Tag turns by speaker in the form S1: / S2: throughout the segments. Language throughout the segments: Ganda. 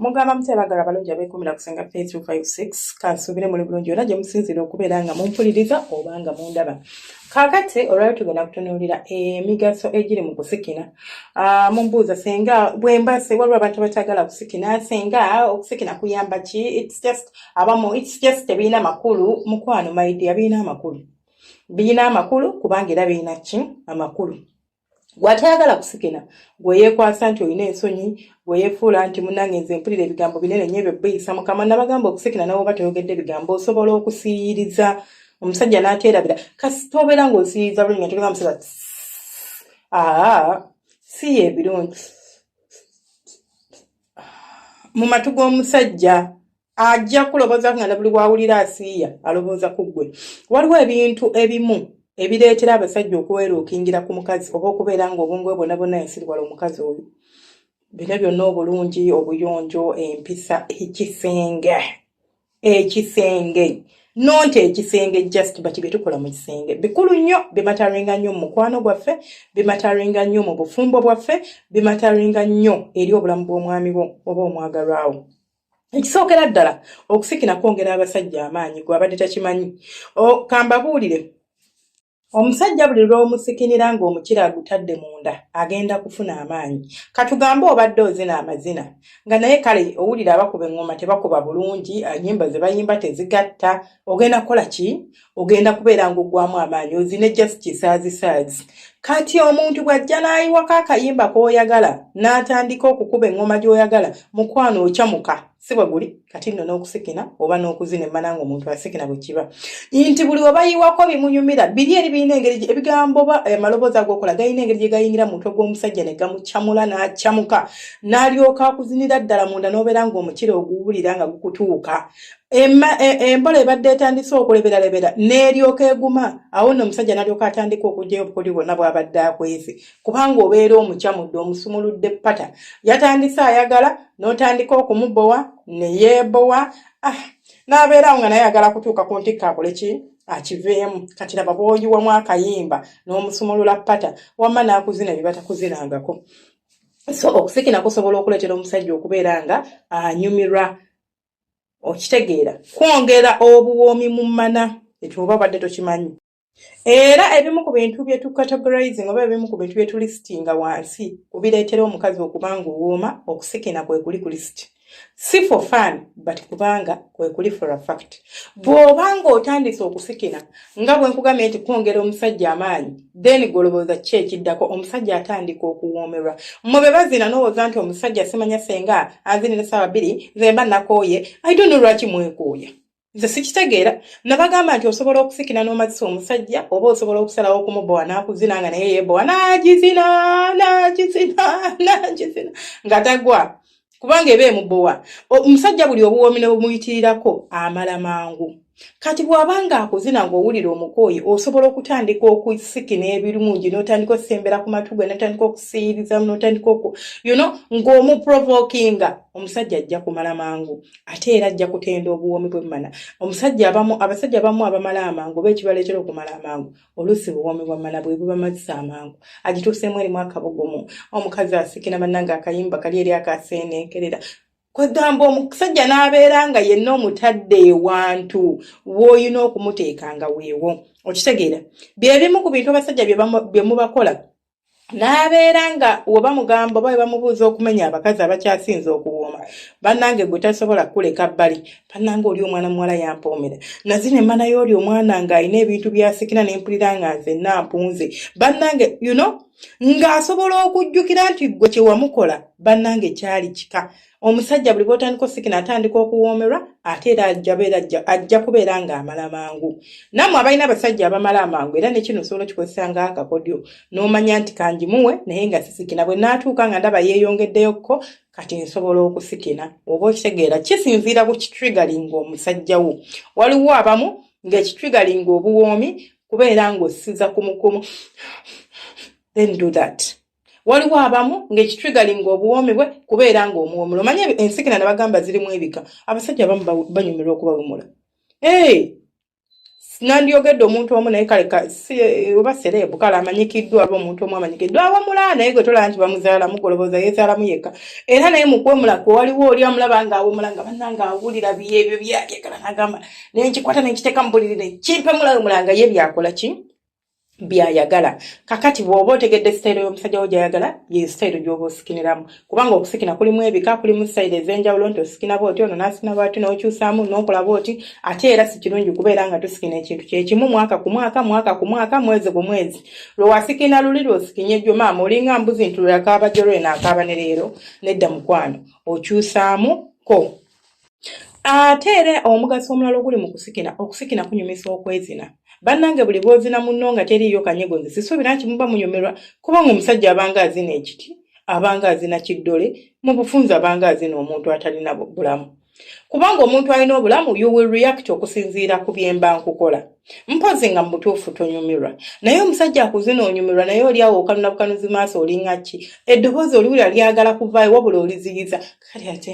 S1: mugamba mutya bagala abalungi abekumira kusenga p 356 kansuubire muli bulungi yona gye musinzira okubeera nga mumpuliriza oba nga mundaba kakati olwali tugenda kutunuulira emigaso egiri mu kusikina ah, mumbuuza senga bwembase waliwo abantu abatagala kusikina senga okusikina kuyamba ki its just abamu it's just tebirina makulu mukwano my dear birina amakulu birina amakulu kubanga era birina ki amakulu gwatayagala kusikina gweyekwasa nti olina ensonyi gweyefuula nti munange nze mpulira ebigambo binene nyo ebyo biyisa mukama nabagamba okusikina nawe oba toyogedde ebigambo osobola okusiyiriza omusajja naterabira kasi tobeera ngaosiyiriza bulungi nga togeza musajja aa siye ebirungi mu matu g'omusajja ajja kuloboza nga nabuli wawulira asiiya alowooza ku ggwe waliwo ebintu ebimu ebireetera abasajja okuweeruukingira ku mukazi oba okubeera nga obungu ebwona bwonna yasiriwala omukazi oyo bino byonna obulungi obuyonjo empisa ekisenge ekisenge nonti ekisenge just bati byetukola mu kisenge bikulu nnyo bimataringa nnyo mu mukwano gwaffe bimataringa nnyo mu bufumbo bwaffe bimataringa nnyo eri obulamu bw'omwami bwo oba omwagalwawo ekisookera ddala okusikina kwongera abasajja amaanyi gwabadde takimanyi kambabuulire Omusajja buli lw'omusikinira ng'omukira agutadde munda agenda kufuna amaanyi. Katugambe obadde ozina amazina nga naye kale owulira abakuba eŋŋoma tebakuba bulungi, ennyimba ze bayimba tezigatta, ogenda kukola ki? Ogenda kubeera ng'oggwamu amaanyi ozine just kisaazisaazi. Kati omuntu bw'ajja n'ayiwako akayimba k'oyagala n'atandika okukuba eŋŋoma gy'oyagala, mukwano ocamuka. si bwe guli kati nno n'okusikina oba n'okuzina emmana nga omuntu asikina bwe kiba nti buli we bayiwako bimunyumira biri eri birina engeri ebigambo ba eh, amaloboozi agookola galina engeri gye gayingira mu mutwe gw'omusajja ne gamucamula n'acamuka n'alyoka akuzinira ddala munda n'obeera ng'omukira oguwulira nga gukutuuka E, embola ebadde etandise okuleberalebera n'eryoka eguma awo nno omusajja n'alyoka atandika okugyayo obukodi bwonna bw'abadde akwese kubanga obeera omucamudde omusumuludde pata yatandise ayagala n'otandika okumubowa ne yeebowa ah, n'abeeraawo nga naye ayagala kutuuka ku ntikka akole ki akiveemu kati laba bwoyiwamu akayimba n'omusumulula pata wamma n'akuzina bye batakuzinangako so okusikina kusobola okuleetera omusajja okubeera nga anyumirwa okitegeera kwongera obuwoomi mu mana ekyo oba badde tokimanyi era ebimu ku bintu bye tucategorizing oba ebimu ku bintu bye tulisitinga wansi kubireetera omukazi okuba nga owooma okusikina kwe kuli ku lisiti si for fun but kubanga kwe kuli for a fact bw'oba nga otandise okusikina nga bwe nkugambye nti kwongera omusajja amaanyi then golobooza ki ekiddako omusajja atandika okuwoomerwa mwe be bazina n'owooza nti omusajja simanya senga anzinira saawa bbiri nze mba nakooye i don't know lwaki mwekooya nze sikitegeera nabagamba nti osobola okusikina n'omazisa omusajja oba osobola okusalawo okumubowa n'akuzina nga naye yebowa n'agizina n'agizina n'agizina nga tagwa kubanga eba emubowa omusajja buli obuwoomi ne bumuyitirirako amala mangu kati bw'aba ng'akuzina ng'owulira omukooyi osobola okutandika okusikina ebirungi n'otandika okusembera ku matu gwe n'otandika okusiiriza n'otandika oku you know ng'omuprovokinga omusajja ajja kumala mangu ate era ajja kutenda obuwoomi bwemmana omusajja abamu abasajja abamu abamala amangu oba ekibaleetera okumala amangu oluusi buwoomi bwa mmana bwe bubamazisa amangu agituuseemu erimu akabugumu omukazi asikira bannanga akayimba kali eri akaseeneekerera kwegamba omusajja n'abeera nga yenna omutadde ewantu w'olina okumuteeka nga weewo okitegeera bye bimu ku bintu abasajja bye mubakola n'abeera nga oba mugamba oba webamubuuza okumenya abakazi abakyasinza okuwooma bannange gwe tasobola kukuleka bbali bannange oli omwana muwala yampoomera nazi ne mana yooli omwana ng'alina ebintu byasikira ne mpulira nga nze nampunze bannange you know ng'asobola okujjukira nti ggwe kyewamukola bannange kyali kika omusajja buli bwotandika osikina atandika okuwoomerwa ate era ajabeera ajja kubeera ng'amala mangu namwe abalina abasajja abamala amangu era nekino osobola okikozesa nga akakodyo n'omanya nti kangimuwe naye nga sisikina bwe naatuuka nga ndaba yeeyongeddeyokko kati nsobola okusikina oba okitegeera kisinziira ku kitrigalinga omusajja wo waliwo abamu ng'ekitrigalinga obuwoomi kubeera ng'ossiza kumukumu then do that waliwo abamu ng'ekitrigalinga obuwoomi bwe kubeera ng'omuwomula omanye ensikina ne bagamba zirimu ebika abasajja abamu banyumirwa okubawumula ee nandyogedde omuntu omu naye kale oba sereebu kale amanyikiddwa aba omuntu omu amanyikiddwa awamula naye gwe tolaba nti bamuzaalamu golobooza yezaalamu yekka era naye mukwemula kwe waliwo oli amulaba nga awumula nga bannanga awulira byebyo byayagala nagamba naye nkikwata nenkiteeka mu buliri nekimpemulawumula nga ye byakola ki byayagala kakati bwoba otegedde sitayiro y'omusajja wo gyayagala ye sitayiro gyoba osikiniramu kubanga okusikina kulimu ebika kulimu sitayiro ez'enjawulo nti osikina booti ono n'asikina bwati n'okyusaamu n'okola booti ate era si kirungi kubeera nga tusikina ekintu kyekimu mwaka ku mwaka mwaka ku mwaka mwezi ku mwezi lwe wasikina luli lwosikinye jjo maama olinga mbuzi nti lwe akaaba jjo lweno akaaba ne leero nedda mukwano okyusaamu ko ate era omugaso omulala oguli mu kusikina okusikina kunyumisa okwezina bannange buli bwozina munno nga teriiyo kanyego nze sisuubira nti muba munyumirwa kubanga omusajja abanga azina ekiti abanga azina kiddole mu bufunzi abanga azina omuntu atalina bulamu kubanga omuntu alina obulamu you will react okusinziira ku byemba nkukola mpozi nga mubutuufu tonyumirwa naye omusajja akuzina onyumirwa naye oli awo okanuna bukanuzi maaso olinga ki eddoboozi oliwulira lyagala kuvaayo wabula oliziyiza kali ate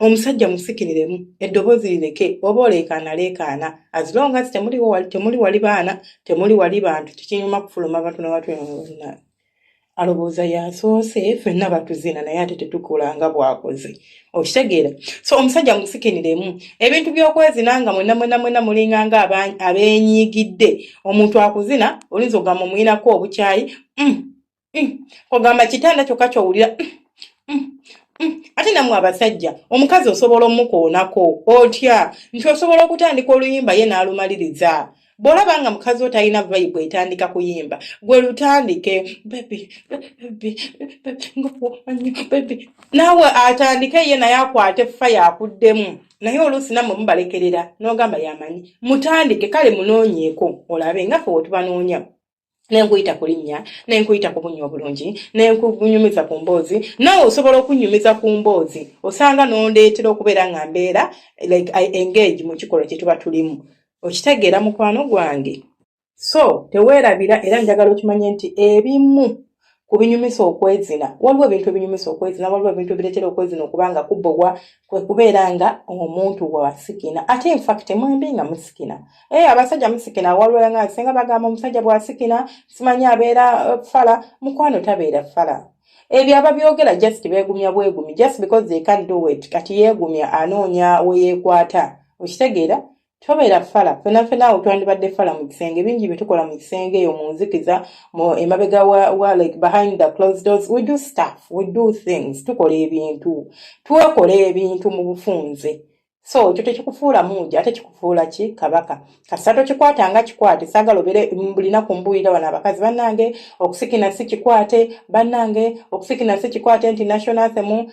S1: omusajja musikiriremu eddoboozi lireke oba oleekaana leekaana azilonga ti temuli wali baana temuli wali bantu kikinyuma kufuluma bantu nabatwena alowooza yasoose fenna batuzina naye ate tetukola nga bwakoze okitegeera so omusajja musikiniremu ebintu byokwezina nga mwena mwena mwena mulinga nga abenyiigidde omuntu akuzina olinza ogamba omuyinako obukyayi mm, mm. ogamba kitanda kyokka kyowulira mm, ate namwe abasajja omukazi osobola omukoonako otya nti osobola okutandika oluyimba ye n'alumaliriza bw'olaba nga mukazi wo talina vayibu etandika kuyimba gwe lutandike naawe atandike ye naye akwate fa yakuddemu naye oluusi namwe mubalekerera n'ogamba yamanyi mutandike kale munoonyeeko olabe nga fe wetubanoonya nenkuyita ku linnya nenkuyita ku bunnya obulungi nenkunyumiza ku mboozi naawe osobola okunyumiza ku mboozi osanga nondeetera okubeera nga mbeera like i engage mu kikolwa kye tuba tulimu okitegeera mukwano gwange so teweerabira era njagala okimanye nti ebimu ku binyumisa okwezina waliwo ebintu ebinyumisa okwezina waliwo ebintu ebireetera okwezina okuba nga kubogwa kwe kubeera nga omuntu wasikina ate infact mwembi nga musikina e abasajja musikina waliwo nga singa bagamba omusajja bwasikina simanyi abeera eh, fala mukwano tabeera fala ebyo ababyogera just beegumya bwegumi just because they can do it kati yeegumya anoonya weyeekwata okitegeera tobeera fala fena fena awo twandibadde fala mu kisenge bingi byetukola mu kisenge eyo mu nzikiza mu emabega wa, wa like behind the closed doors we do stuff we do things tukola ebintu twekola ebintu mu bufunze so ekyo tekikufuula muuja ate kikufuula ki kabaka kasita tokikwata nga kikwate saagala obeere bulinaku mbuulira wano abakazi bannange okusikina si kikwate bannange okusikina si kikwate nti national themu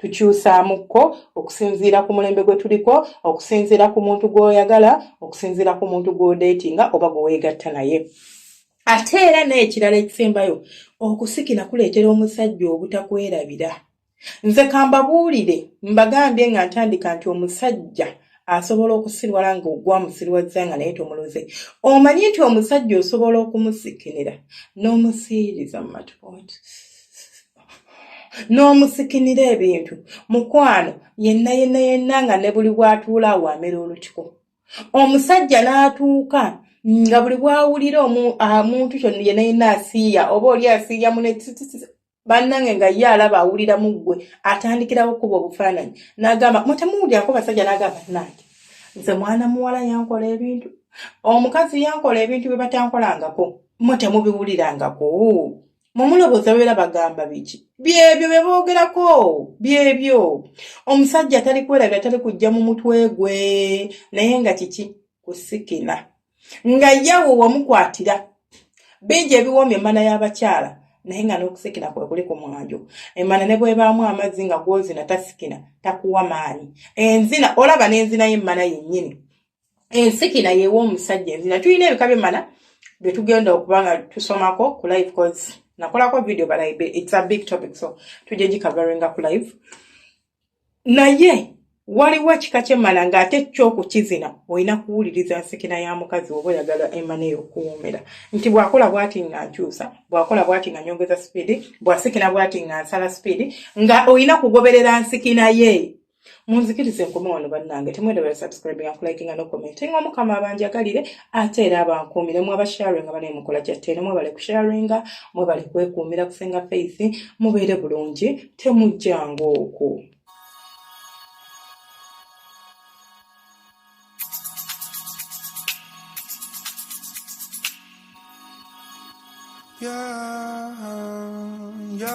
S1: tukyusaamukko okusinziira ku mulembe gwe tuliko okusinziira ku muntu gw'oyagala okusinziira ku muntu gw'odeetinga oba gwe weegatta naye ate era n'ekirala ekisembayo okusikira kuleetera omusajja obutakwerabira nze kambabuulire mbagambye nga ntandika nti omusajja asobola okusirwala nga ogwamusirwazza nga naye tomuluze omanyi nti omusajja osobola okumusikinira n'omusiiriza mu matupooti n'omusikinira ebintu mukwano yenna yenna yenna nga ne buli bw'atuula awaamera olutiko omusajja n'atuuka nga buli bw'awulira omuntu kyo yenna yenna asiiya oba oli asiiya mune bannange nga ye alaba awulira mu ggwe atandikirawo kuba obufaananyi n'agamba mutemuwulyako basajja n'agamba nange nze mwana muwala yankola ebintu omukazi yankola ebintu bye batankolangako mwe temubiwulirangako mumulobooza beera bagamba biki byebyo bye boogerako byebyo omusajja atali kwerabira tali kujja mu mutwe gwe naye nga kiki kusikina nga yawe wamukwatira bingi ebiwoomi emana y'abakyala naye nga n'okusikina kwe kuli ku mwanjo emana ne bwebaamu amazzi nga gwozina tasikina takuwa maanyi enzina olaba n'enzina y'emmana yennyini ensikira yewa omusajja enzina tulina ebika bimala byetugenda okuba nga tusomako ku live cause nakolako video but it's a big topic so tujja gikavaringa ku live naye waliwo kika kyemala nga ate kyokukizina olina kuwuliriza nsikina ya mukazi oba oyagala emana eyokuwomera nti bwakola bwati nga nkyusa bwakola bwati nga nyongeza sipiidi bwasikina bwati nga nsala sipiidi nga olina kugoberera nsikina ye munzikirize nkome wano bannange temwendabala subscribing akulakinga nokomentinga omukama abanjagalire ate era abankuumire mu abasharinga bane mukola kyattene mwebale kusharinga mwebale kwekuumira kusenga faith mubeere bulungi temujjanga oku
S2: Yeah, yeah.